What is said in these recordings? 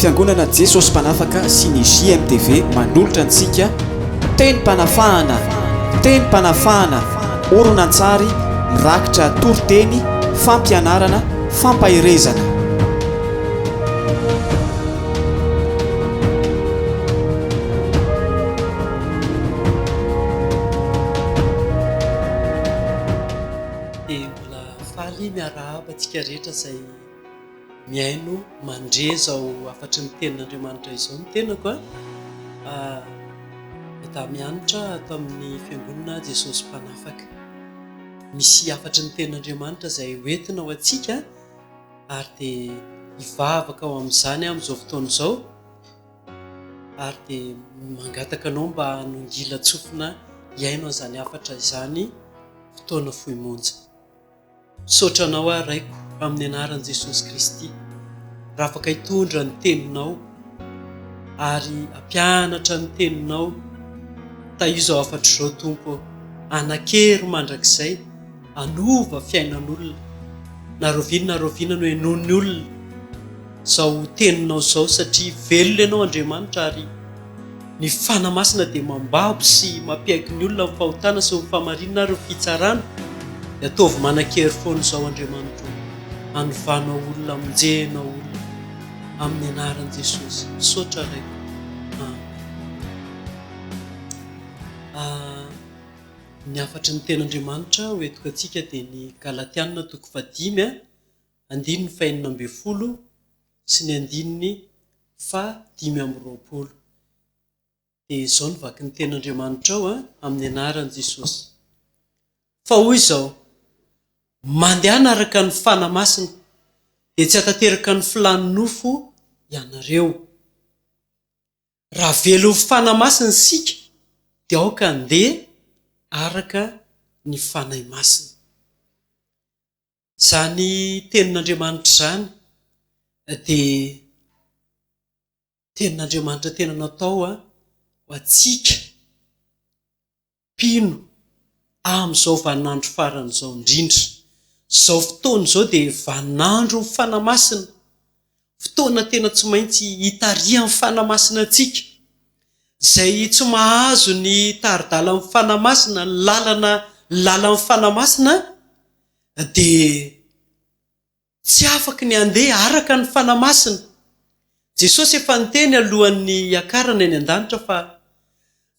Fiangonana Jesosy Mpanafaka sy ny JMTV manolotra antsika Tenim-panafahana, Tenim-panafahana, horonantsary mirakitra toriteny, fampianarana, fampaherezana. Dia mbola faly miarahaba antsika rehetra izay. Mihaino mandre izao hafatry ny tenin'Andriamanitra izao ny tenako a! Meda mianatra ato amin'ny fiangonana aho Jesosy Mpanafaka. Misy hafatry ny tenin'Andriamanitra izay ho entina ho antsika ary dia hivavaka ho amin'izany aho amin'izao fotoana izao ary dia mangataka anao mba hanongila-tsofina hihaino an'izany hafatra izany fotoana fohy monja. Misaotra anao aho Raiko amin'ny anaran'i Jesosy Kristy raha afaka hitondra ny teninao ary hampianatra ny teninao tahio izao hafatro izao Tompo ô. Anakery mandrakizay hanova fiainan'olona na rahoviana na rahoviana no henoin'ny olona. izao teninao izao satria velona ianao Andriamanitra ary ny Fanahy Masina dia mambabo sy mampiaiky ny olona amin'ny fahotana sy ny fahamarinana ary ny fitsarana dia ataovy manan-kery foana izao Andriamanitra o! anovanao olona amonjenao olona amin'ny anaran'i Jesosy misaotra Ray Amen Ny hafatry ny tenin'Andriamanitra hoentiko antsika dia ny Galatiana toko fahadimy andininy fahenina ambin'ny folo sy ny andininy fahadimy amby roapolo. Dia izao no vaky ny Tenin'Andriamanitrao amin'ny anaran'i Jesosy. Fa hoy izao, Mandehana araka ny fanahy masina, dia tsy hatateraka ny filàn'ny nofo ianareo. Raha velon'ny fanahy masina isika, dia aoka handeha araka ny fanahy masina. Izany Tenin'Andriamanitra izany dia Tenin'Andriamanitra tena natao ho antsika mpino amin'izao vaninandro farany izao indrindra. Izao fotoana izao dia vaninandron'ny Fanahy Masina, fotoana tena tsy maintsy hitarihan'ny Fanahy Masina antsika. Izay tsy mahazo ny tari-dalan'ny Fanahy Masina, ny lalana ny lalan'ny Fanahy Masina, dia tsy afaka ny handeha araka ny Fanahy Masina. Jesosy efa niteny alohan'ny hiakarany any an-danitra fa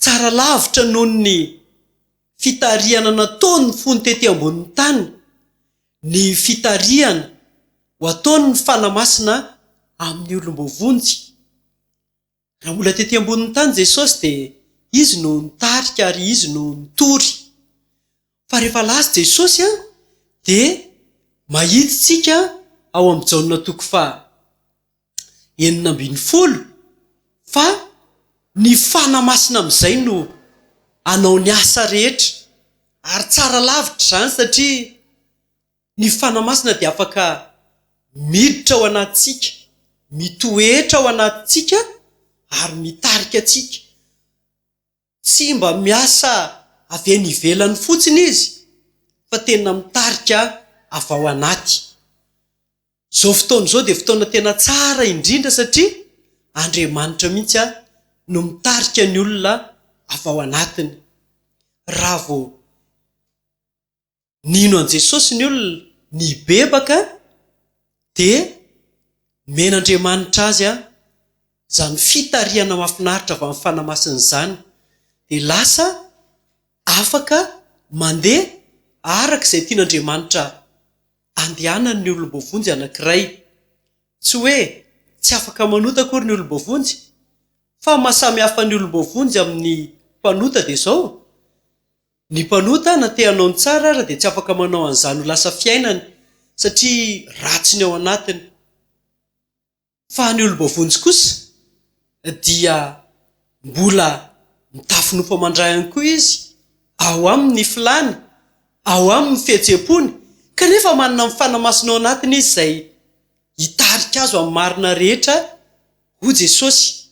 tsara lavitra noho ny fitarihana nataony fony tety ambonin'ny tany ny fitarihana ho ataon'ny Fanahy Masina amin'ny olom-boavonjy. Raha mbola tety ambonin'ny tany Jesosy dia Izy no nitarika ary Izy no nitory. Fa rehefa lasa Jesosy dia mahitntsika ao amin'ny Jaona toko faha enina ambin'ny folo fa ny Fana Masina amin'izay no hanao ny asa rehetra. Ary tsara lavitra izany satria. Ny Fanahy Masina dia afaka miditra ao anatintsika, mitoetra ao anatintsika ary mitarika antsika. Tsy mba miasa avy eny ivelany fotsiny Izy fa tena mitarika avy ao anaty. Izao fotoana izao dia fotoana tena tsara indrindra satria Andriamanitra mihitsy no mitarika ny olona avy ao anatiny. Raha vao. nino an'i Jesosy ny olona, nibebaka, dia nomen'Andriamanitra azy izany fitarihana mahafinaritra avy amin'ny Fanahy Masina izany, dia lasa afaka mandeha araka izay tian'Andriamanitra handehanany ny olom-boavonjy anankiray. Tsy hoe tsy afaka manota akory ny olom-boavonjy, fa ny maha samy hafa ny olom-boavonjy amin'ny mpanota dia izao, Ny mpanota na te hanao ny tsara ara dia tsy afaka manao an'izany ho lasa fiainany satria ratsy ny ao anatiny. Fa ny olom-boavonjy kosa dia mbola mitafinofo aman-drahiny koa izy, ao aminy ny filàny, ao aminy ny fihetsem-pony, kanefa manana ny Fanahy Masina ao anatiny izy izay hitarika azy ho amin'ny marina rehetra, hoy Jesosy.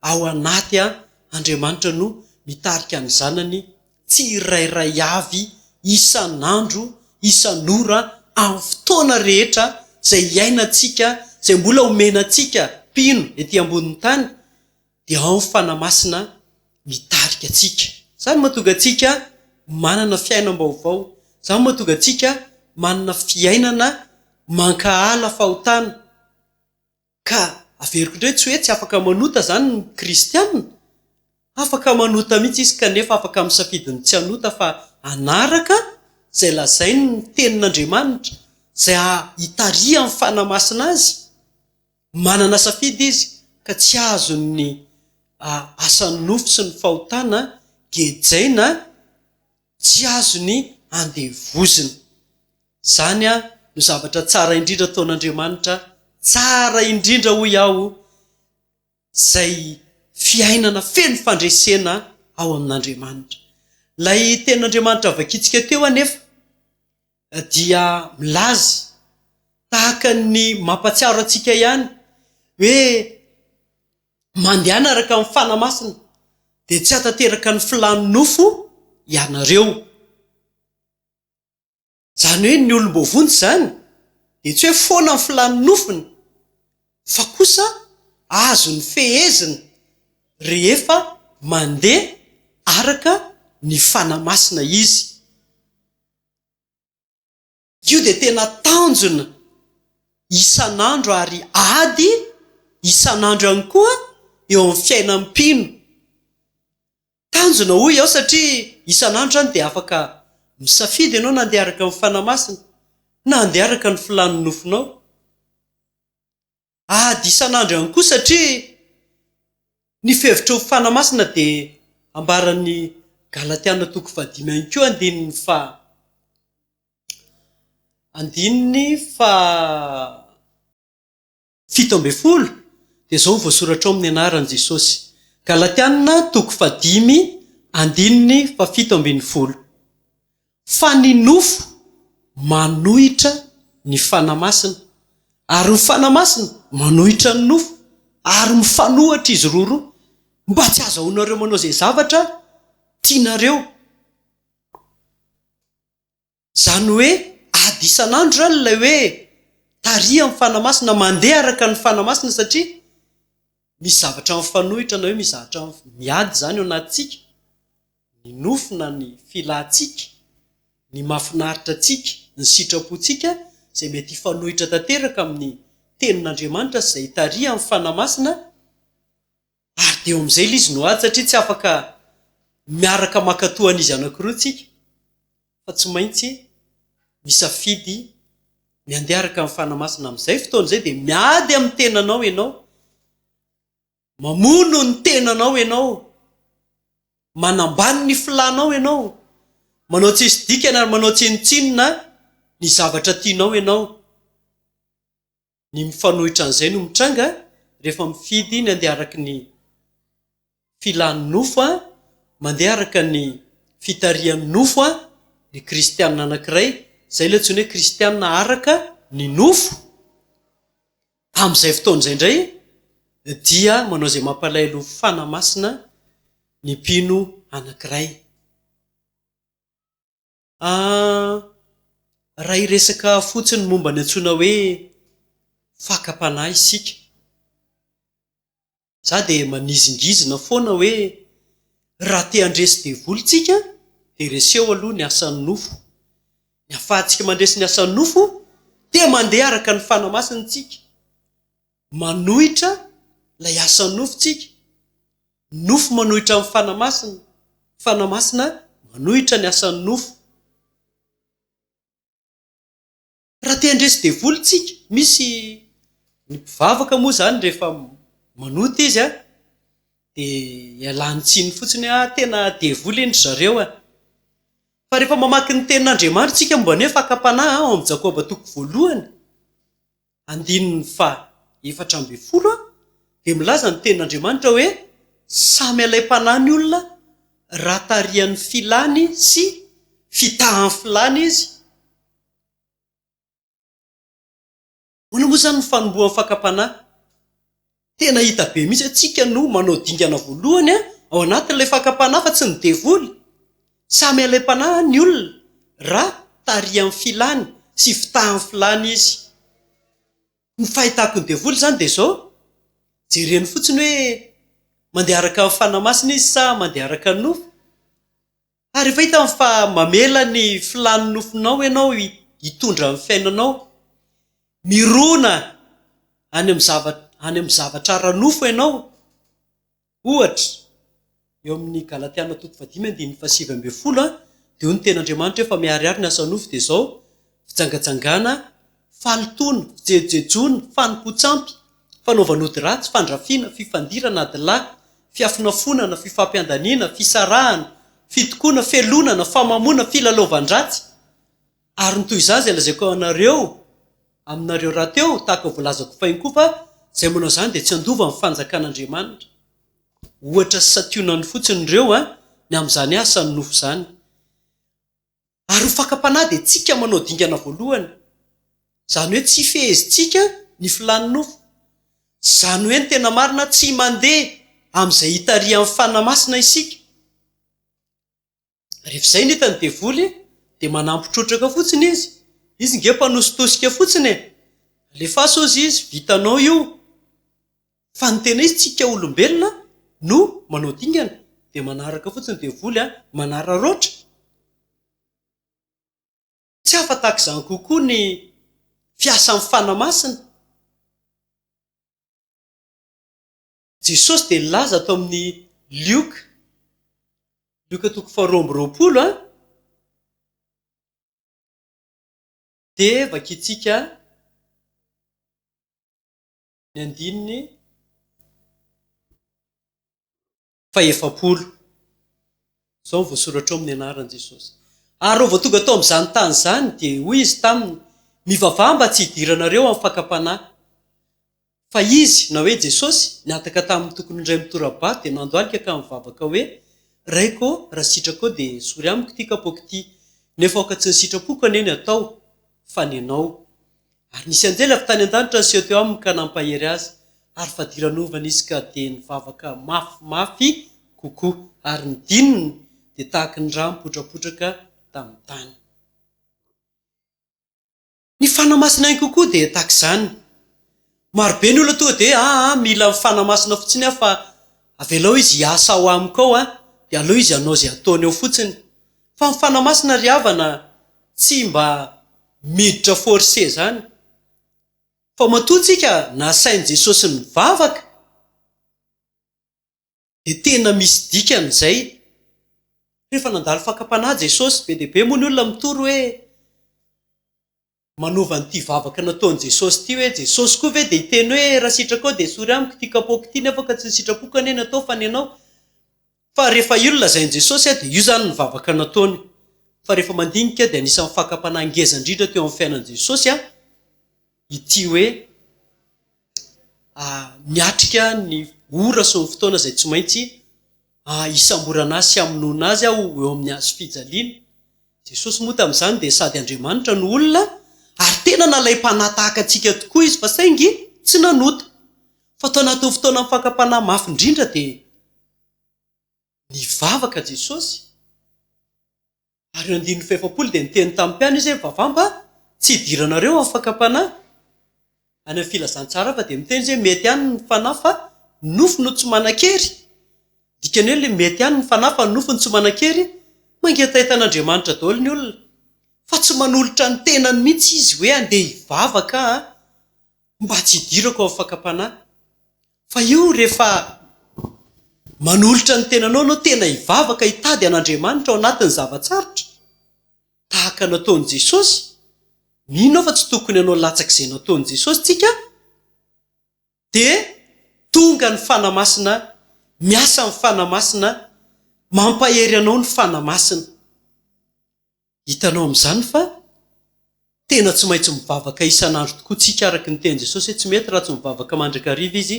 ao anaty an, Andriamanitra no mitarika ny zanany tsirairay avy isan'andro, isan'ora, amin'ny fotoana rehetra izay hiainantsika, izay mbola omena antsika mpino ety ambonin'ny tany dia ao ny Fanahy Masina mitarika antsika. Izany mahatonga antsika manana fiainam-baovao, izany mahatonga antsika manana fiainana mankahala fahotana. Ka averiko indray tsy hoe tsy afaka manota izany ny kristiana. Afaka manota mihitsy izy kanefa afaka misafidy ny tsy hanota fa hanaraka izay lazainy ny tenin'Andriamanitra, izay hitarihan'ny Fanahy Masina azy. Manana safidy izy ka tsy azony ny asan'ny nofo sy ny fahotana gejaina. Tsy azony andevozina. Izany no zavatra tsara indrindra ataon'Andriamanitra, tsara indrindra hoy aho, izay fiainana feno fandresena ao amin'Andriamanitra. Ilay tenin'Andriamanitra vakintsika teo anefa. dia milaza tahaka ny mampatsiaro antsika ihany hoe mandehana araka ny fanahy masina dia tsy hatateraka ny filàn'ny nofo ianareo. Izany hoe ny olom-boavonjy izany dia tsy hoe foana ny filàn'ny nofony fa kosa azony fehezina rehefa mandeha araka ny fanahy masina izy. Io dia tena tanjona isan'andro ary ady isan'andro ihany koa eo amin'ny fiainan'ny mpino. Tanjona hoy aho satria isan'andro izany dia afaka misafidy ianao na handeha araka ny Fanahy Masina na handeha araka ny filàn'ny nofonao. ady isan'andro ihany koa satria ny fihevitra ho fanahy masina dia ambaran'ny Galatiana toko fahadimy ihany koa andininy faha andininy fahafito ambin'ny folo dia izao no voasoratra ao amin'ny anaran'i Jesosy. Galatiana toko fahadimy andininy fahafito ambin'ny folo. fa ny nofo manohitra ny Fanahy Masina, ary ny Fanahy Masina manohitra ny nofo, ary mifanohitra izy roroa, mba tsy hazahoanareo manao izay zavatra tianareo. Izany hoe, ady isan'andro izany ilay hoe tarihan'ny Fanahy Masina, mandeha araka ny Fanahy Masina, satria. Misy zavatra mifanohitra na hoe misy zavatra miady izany ao anatintsika, ny nofo na ny filantsika, ny mahafinaritra antsika, ny sitrapontsika izay mety hifanohitra tanteraka amin'ny Tenin'Andriamanitra sy izay itarihan'ny Fanahy Masina ary dia eo amin'izay ilay izy no ady satria tsy afaka miaraka mankatoa an'izy anankiroa tsika. fa tsy maintsy misafidy ny andeha araka ny Fanahy Masina amin'izay fotoana izay dia miady amin'ny tenanao ianao, mamono ny tenanao ianao, manambany ny filànao ianao, manao tsisy dikany ary manao tsinontsinona ny zavatra tianao ianao. ny mifanohitra an'izay no mitranga rehefa mifidy ny handeha araka ny filan'ny nofo, mandeha araka ny fitarihan'ny nofo ny kristiana anankiray, izay ilay antsoina hoe kristiana araka ny nofo. Amin'izay fotoana izay indray dia manao izay mampalahelo ny fanahy masina ny mpino anankiray. Ahh! Raha hiresaka fotsiny momba ny antsoina hoe fakam-panahy isika, za dia manizingizina foana hoe raha te handresy devoly tsika dia reseho aloha ny asan'ny nofo, ny afahantsika mandresy ny asan'ny nofo dia mandeha araka ny fanahy masina tsika. Manohitra ilay asan'ny nofo tsika. Ny nofo manohitra ny Fanahy Masina. Ny Fanahy Masina manohitra ny asan'ny nofo. Raha te handresy devoly tsika, misy ny mpivavaka moa izany rehefa manota izy an, dia ialany tsiny fotsiny hoe ah tena devoly iny ry zareo an. Fa rehefa mamaky ny tenin'Andriamanitra tsika momba ny hoe fakam-panahy ao amin'ny Jakoba toko voalohany, andininy faha efatra ambin'ny folo dia milaza ny tenin'Andriamanitra hoe samy alaim-panahy ny olona raha tarihan'ny filany sy fitahan'ny filany izy. Ahoana moa izany ny fanombohan'ny fakam-panahy? Tena hita be mihitsy hoe tsika no manao dingana voalohany ao anatin'ilay fakam-panahy fa tsy ny devoly. Samy alaim-panahy ny olona raha tarihan'ny filany sy fitahan'ny filany izy. Ny fahitako ny devoly izany dia izao, jereny fotsiny hoe mandeha araka ny fanahy masina izy sa mandeha araka ny nofo. Ary rehefa hitany fa mamela ny filàn'ny nofinao ianao hitondra ny fiainanao, mirona any amin'ny zavatra, any amin'ny zavatra ara-nofo ianao, ohatra, eo amin'ny Galatiana toko fahadimy andininy fahasivy ambin'ny folo dia hoy ny tenin'Andriamanitra hoe fa miharihary ny asan'ny nofo dia izao, fijangajangana, fahalotoana, fijejojejoana, fanompoan-tsampy, fanaovan-ody ratsy, fandrafiana, fifandirana, adilahy, fiafonafonana, fifampiandaniana, fisarahana, fitokoana, felonana, famamoana, filalaovan-dratsy, ary ny toy izany izay lazaiko anareo, aminareo rahateo, tahaka ny voalazako fahiny koa fa izay manao izany dia tsy handova ny fanjakan'Andriamanitra. Ohatra sy santionany fotsiny ireo, an, ny amin'izany asany nofo izany. ary ho fakam-panahy dia tsika manao dingana voalohany, izany hoe tsy fehezintsika ny filàn'ny nofo. Izany hoe ny tena marina tsy mandeha amin'izay hitarihan'ny Fanahy Masina isika. Rehefa izay no hitan'ny devoly dia manampy trotraka fotsiny izy, izy nge mpanositosika fotsiny e! Alefaso ozy izy, vitanao io! Fa ny tena izy tsika olombelona no manao dingana dia manaraka fotsiny devoly a! manararaotra! Tsy hafa tahaka izany kokoa ny fiasan'ny Fanahy Masina. Jesosy dia nilaza ato amin'ny Lioka, Lioka toko faharoa amby roapolo a, dia vakintsika. ny andininy fahefapolo. Izao ny voasoratra ao amin'ny anaran'i Jesosy. Ary rehefa tonga tao amin'izany tany izany, dia hoy izy taminy, Mivavaha mba tsy hidiranareo amin'ny fakam-panahy. Fa izy, na hoe Jesosy, nihataka tamin'ny tokony indray mitora-bato dia nandohalika ka nivavaka hoe, Raiko ô, raha sitrakao dia esory amiko ity kapaoko ity. Nefa aoka tsy ny sitrapoko anie ny hatao, fa ny anao. Ary nisy anjely avy tany an-danitra niseho teo aminy ka nampahery azy, ary fadiranovana izy ka dia nivavaka mafimafy kokoa, ary ny dininy dia tahaky ny rà mipotrapotraka tamin'ny tany. Ny fanahy masina ihany kokoa dia tahaka izany. Maro be ny olona tonga dia aa mila ny Fanahy Masina fotsiny aho fa avelao Izy hiasa ao amiko ao an, dia aleo Izy hanao izay ataony ao fotsiny. Fa ny Fanahy Masina ry havana tsy mba miditra forcer izany. Fa matoa tsika nasain'i Jesosy nivavaka. dia tena misy dikany izay. Rehefa nandalo fakam-panahy Jesosy, be dia be moa ny olona mitory hoe manova an'ity vavaka nataon'i Jesosy ity hoe, Jesosy koa ve dia hiteny hoe, raha sitrakao dia esory amiko ity kapaoko ity nefa ka tsy ny sitrapoko anie no atao fa ny anao? Fa rehefa io no lazain'i Jesosy dia io izany ny vavaka nataony. Fa rehefa mandinika dia anisan'ny fakam-panahy ngeza indrindra teo amin'ny fiainan'i Jesosy ity hoe miatrika ny ora sy ny fotoana izay tsy maintsy hisamborana azy sy hamonoana azy aho eo amin'ny hazo fijaliana. Jesosy moa tamin'izany dia sady Andriamanitra no olona ary tena nalaim-panahy tahaka antsika tokoa izy fa saingy tsy nanota. Fa tao anatin'ny fotoanan'ny fakam-panahy mafy indrindra dia nivavaka Jesosy. Ary eo andininy fahefapolo dia niteny tamin'ny mpiany izy hoe, Mivavamba, tsy hidiranareo amin'ny fakam-panahy. Any amin'ny filazantsara hafa dia miteny izy hoe, Mety ihany ny fanahy fa ny nofo no tsy manan-kery. Ny dikany hoe ilay mety ihany ny fanahy fa ny nofo no tsy manan-kery, mangetaita an'Andriamanitra daholo ny olona. Fa tsy manolotra ny tenany mihitsy izy hoe handeha hivavaka an! mba tsy hidirako amin'ny fakam-panahy. Fa io rehefa manolotra ny tenanao ianao, tena hivavaka hitady an'Andriamanitra ao anatin'ny zava-tsarotra, tahaka ny nataon'i Jesosy, mino aho fa tsy tokony hanao latsaka izay nataon'i Jesosy tsika, dia tonga ny Fanahy Masina, miasa ny Fanahy Masina, mampahery anao ny Fanahy Masina. Hitanao amin'izany fa tena tsy maintsy mivavaka isan'andro tokoa tsika araka ny tenin'i Jesosy hoe tsy mety raha tsy mivavaka mandrakariva izy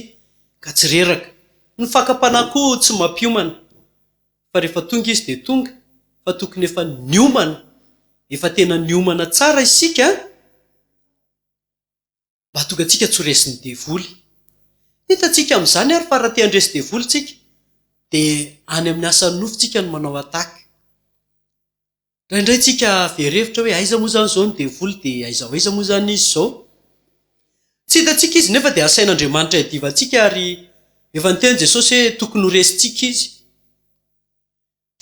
ka tsy reraka. Ny fakam-panahy koa tsy mampiomana fa rehefa tonga izy dia tonga fa tokony efa niomana, efa tena niomana tsara isika an! mba tonga antsika tsy ho resin'ny devoly. Hitantsika amin'izany ary fa raha te handresy devoly tsika dia any amin'ny asan'ny nofo tsika no manao attaque. Indraindray tsika very hevitra hoe aiza moa izany izao ny devoly dia aiza ho aiza moa izany izy izao. Tsy hitantsika izy nefa dia asain'Andriamanitra hiadivantsika ary efa niteny Jesosy hoe tokony ho resintsika izy.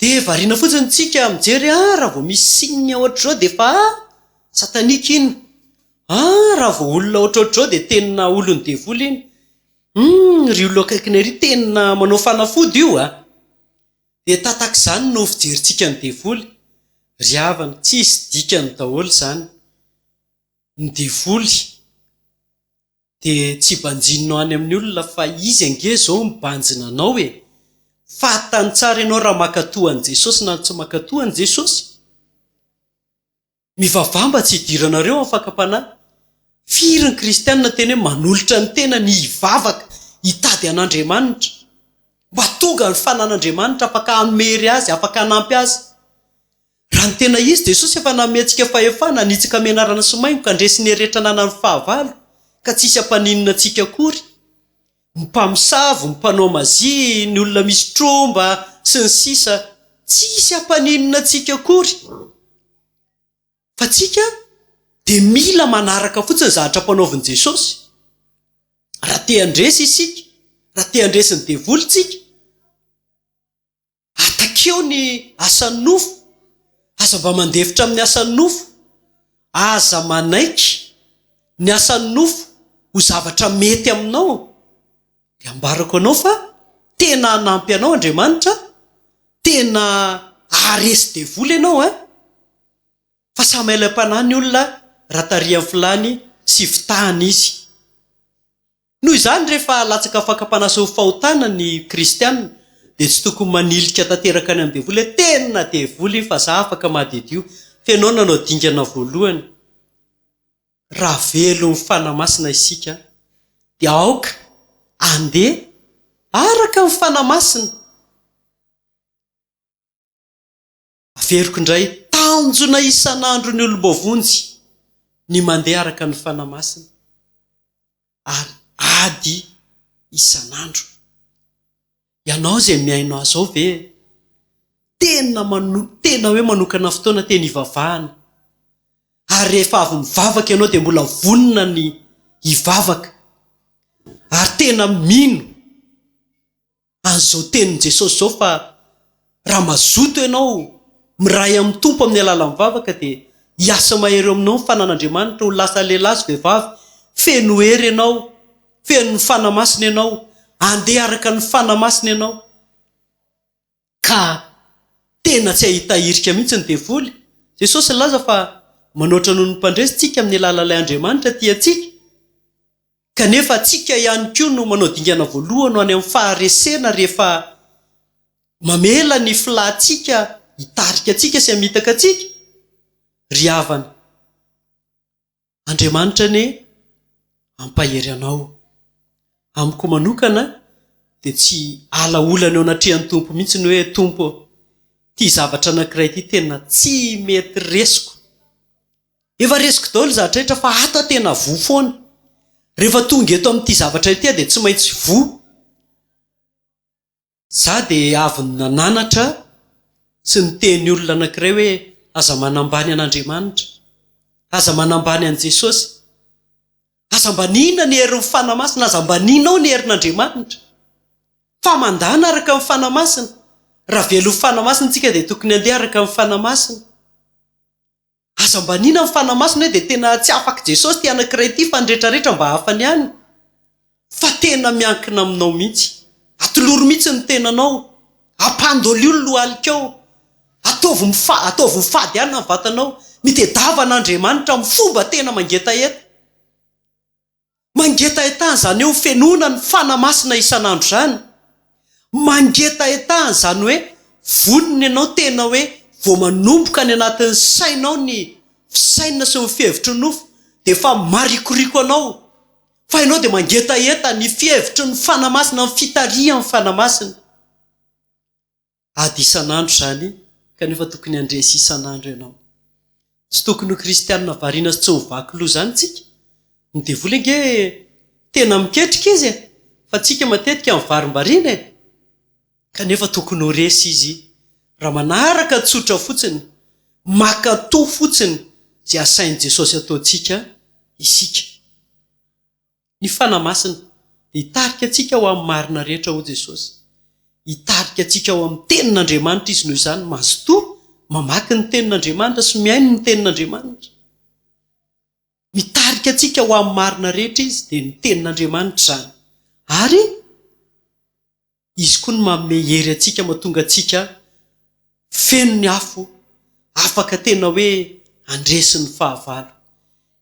Dia variana fotsiny tsika mijery ah raha vao misy signe ohatr'izao dia efa ah satanique iny, ah raha vao olona ohatrohatr'izao dia tena olon'ny devoly iny, humm ry olona eo akaikinay ry tena manao fanafody io ah! dia tatak'izany no fijerintsika ny devoly, ry havana tsisy dikany daholo izany ny devoly. Dia tsy banjininao any amin'ny olona fa izy ange izao mibanjina anao e! Fantany tsara ianao raha mankatoa an'i Jesosy na tsy mankatoa an'i Jesosy. Mivavaha mba tsy hidiranareo amin'ny fakam-panahy. Firy ny kristianina tena hoe manolotra ny tenany hivavaka, hitady an'Andriamanitra. Mba tonga ny fanan'Andriamanitra afaka hamery azy, afaka hanampy azy. Raha ny tena izy, Jesosy efa nanome antsika fahefana hanitsaka menarana sy maingoka handresy ny herehetra ananan'ny fahavalo ka tsy hisy hampaninona antsika akory. Ny mpamosavy, ny mpanao mazia, ny olona misy tromba, sy ny sisa Tsy hisy hampaninona antsika akory. Fa tsika dia mila manaraka fotsiny zavatra ampanaovin'i Jesosy. Raha te handresy isika, raha te handresy ny devoly tsika, Atakeo ny asan'ny nofo, aza mba mandefitra amin'ny asan'ny nofo, aza manaiky ny asan'ny nofo ho zavatra mety aminao, dia ambarako anao fa tena hanampy anao Andriamanitra, tena haharesy devoly ianao an! fa samy hailaim-panahy ny olona raha tarihan'ny filàny sy fitahany izy. Noho izany, rehefa latsaka fakam-panasa ho fahotana ny kristiana, dia tsy tokony manilika tanteraka any amin'ny devoly hoe, Tena devoly iny fa za afaka madiodio. Fenoina no dingana voalohany. Raha velon'ny Fanahy Masina isika, dia aoka handeha araka ny Fanahy Masina. Averiko indray, tanjona isan'andro ny olom-boavonjy ny mandeha araka ny Fanahy Masina ary ady isan'andro. Ianao izay mihaino ahy izao ve tena mano- tena hoe manokana fotoana teny hivavahana? Ary rehefa avy mivavaka ianao dia mbola vonona ny hivavaka ary tena mino Azo izao tenin'i Jesosy izao fa raha mazoto ianao miray amin'ny Tompo amin'ny alalan'ny vavaka dia hiasa mahery eo aminao ny fanan'Andriamanitra ho lasa lehilahy sy vehivavy feno hery ianao, fenon'ny Fanahy Masina ianao, andeha araka ny Fanahy Masina ianao ka tena tsy hahita irika mihitsy ny devoly. Jesosy nilaza fa manoatra noho ny mpandresy tsika amin'ny alalan'ilay Andriamanitra tia antsika. Kanefa antsika ihany koa no manao dingana voalohany ho any amin'ny faharesena rehefa mamela ny filantsika hitarika antsika sy hamitaka antsika? Ry havana, Andriamanitra anie hampahery anao. Amiko manokana dia tsy alaolana eo anatrehan'ny Tompo mihitsy ny hoe, Tompo ô, ity zavatra anankiray ity tena tsy mety resiko. Efa resiko daholo zah rehetra fa ato aho tena voa foana. Rehefa tonga eto amin'ity zavatra ity aho dia tsy maintsy voa. Zah dia avy nananatra tsy niteny olona anankiray hoe aza manambany an'Andriamanitra, aza manambany an'i Jesosy, aza ambaniana ny herin'ny Fanahy Masina, aza ambanianao ny herin'Andriamanitra. Fa mandana araka ny Fanahy Masina. Raha velon'ny Fanahy Masina isika dia tokony handeha araka ny Fanahy Masina. Aza mba anina ny fanahy masina hoe dia tena tsy afak'i Jesosy ity anankiray ity fa ny rehetra rehetra mba hafany ihany fa tena miankina aminao mihitsy. Atolory mihitsy ny tenanao, ampandolio ny lohalikao, ataovy mifa, ataovy ho fady ihany ny vatanao, mitedava an'Andriamanitra amin'ny fomba tena mangetaheta. Mangetahetaha izany hoe fenoina ny Fanahy Masina isan'andro izany. Mangetahetaha izany hoe vonona ianao tena hoe vao manomboka any anatin'ny sainao ny fisainana sy ny fihevitry ny nofo dia efa marikoriko anao fa ianao dia mangetaheta ny fihevitry ny Fanahy Masina, ny fitarihan'ny Fanahy Masina. Ady isan'andro izany kanefa tokony handresy isan'andro ianao. Tsy tokony ho kristianina variana sy tsy ho vaky loha izany isika. Ny devoly ange tena miketrika izy e! Fa tsika matetika mivarimbariana e! Kanefa tokony ho resy izy raha manaraka tsotra fotsiny, mankatoa fotsiny izay asain'i Jesosy ataontsika isika. Ny Fanahy Masina dia hitarika antsika ho amin'ny marina rehetra, hoy Jesosy. Hitarika antsika ho amin'ny Tenin'Andriamanitra Izy noho izany. Mazotoa mamaky ny Tenin'Andriamanitra sy mihaino ny Tenin'Andriamanitra. Mitarika antsika ho amin'ny marina rehetra Izy, dia ny Tenin'Andriamanitra izany. Ary. Izy koa no manome hery antsika mahatonga antsika feno ny afo, afaka tena hoe handresy ny fahavalo.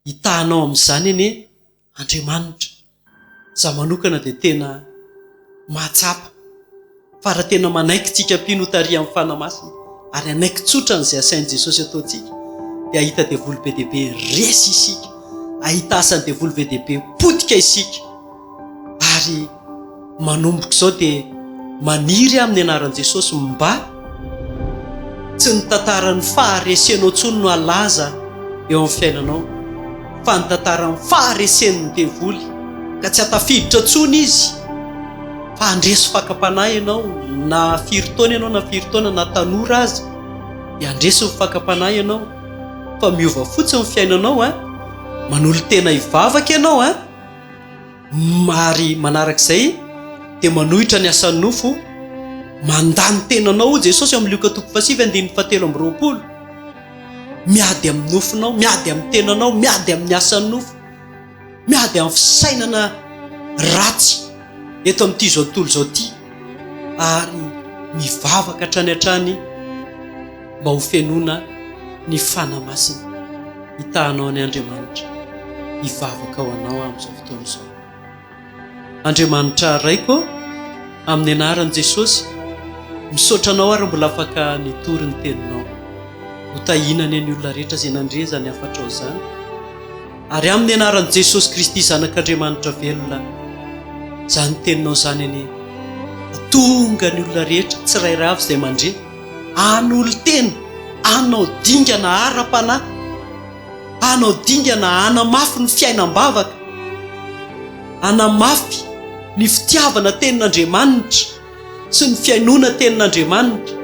Hitahanao amin'izany anie Andriamanitra. Izaho manokana dia tena mahatsapa fa raha tena manaiky tsika mpino ho tarihan'ny Fanahy Masina ary hanaiky tsotra an'izay asain'i Jesosy ataontsika dia hahita devoly be dia be resy isika, hahita asan'ny devoly be dia be potika isika ary Manomboka izao dia maniry aho amin'ny anaran'i Jesosy mba tsy ny tantaran'ny faharesenao intsony no halaza eo amin'ny fiainanao fa ny tantaran'ny faharesen'ny devoly ka tsy hatafiditra intsony izy fa handresy fakam-panahy ianao na firy taona ianao na firy taona na tanora aza dia handresy ny fakam-panahy ianao fa miova fotsiny ny fiainanao eh manolo-tena hivavaka ianao eh Ary manaraka izay dia manohitra ny asan'ny nofo, Mandà ny tenanao, hoy Jesosy ao amin'ny Lioka toko fahasivy andininy fahatelo amby roapolo. Miady amin'ny nofonao, miady amin'ny tenanao, miady amin'ny asan'ny nofo, miady amin'ny fisainana ratsy eto amin'ity izao tontolo izao ity, ary mivavaka hatrany hatrany mba ho fenoina ny Fanahy Masina. Hitahanao an' Andriamanitra hivavaka ho anao aho amin'izao fotoana izao. Andriamanitra Raiko, amin'ny anaran'i Jesosy, misaotra Anao ary mbola afaka nitory ny Teninao. Ho tahiana anie ny olona rehetra izay nandre izany hafatrao izany. Ary amin'ny anaran'i Jesosy Kristy, Zanak'Andriamanitra velona, izany Teninao izany anie, hatonga ny olona rehetra tsirairay avy izay mandre, Hanolo-tena, hanao dingana ara-panahy, hanao dingana hanamafy ny fiainam-bavaka, hanamafy ny fitiavana tenin'Andriamanitra sy ny fihainoana tenin'Andriamanitra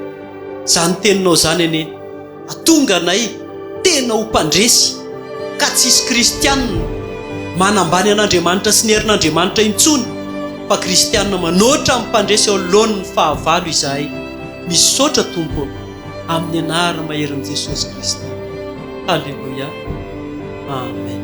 izany teninao izany anie. Hatonga anay tena ho mpandresy ka tsy hisy kristianina manambany an'Andriamanitra sy ny herin'Andriamanitra intsony fa kristianina manoatra amin'ny mpandresy eo anoloan'ny fahavalo izahay. Misaotra Tompo ô! Amin'ny anarana maherin'i Jesosy Kristy. Haleloia. Amen.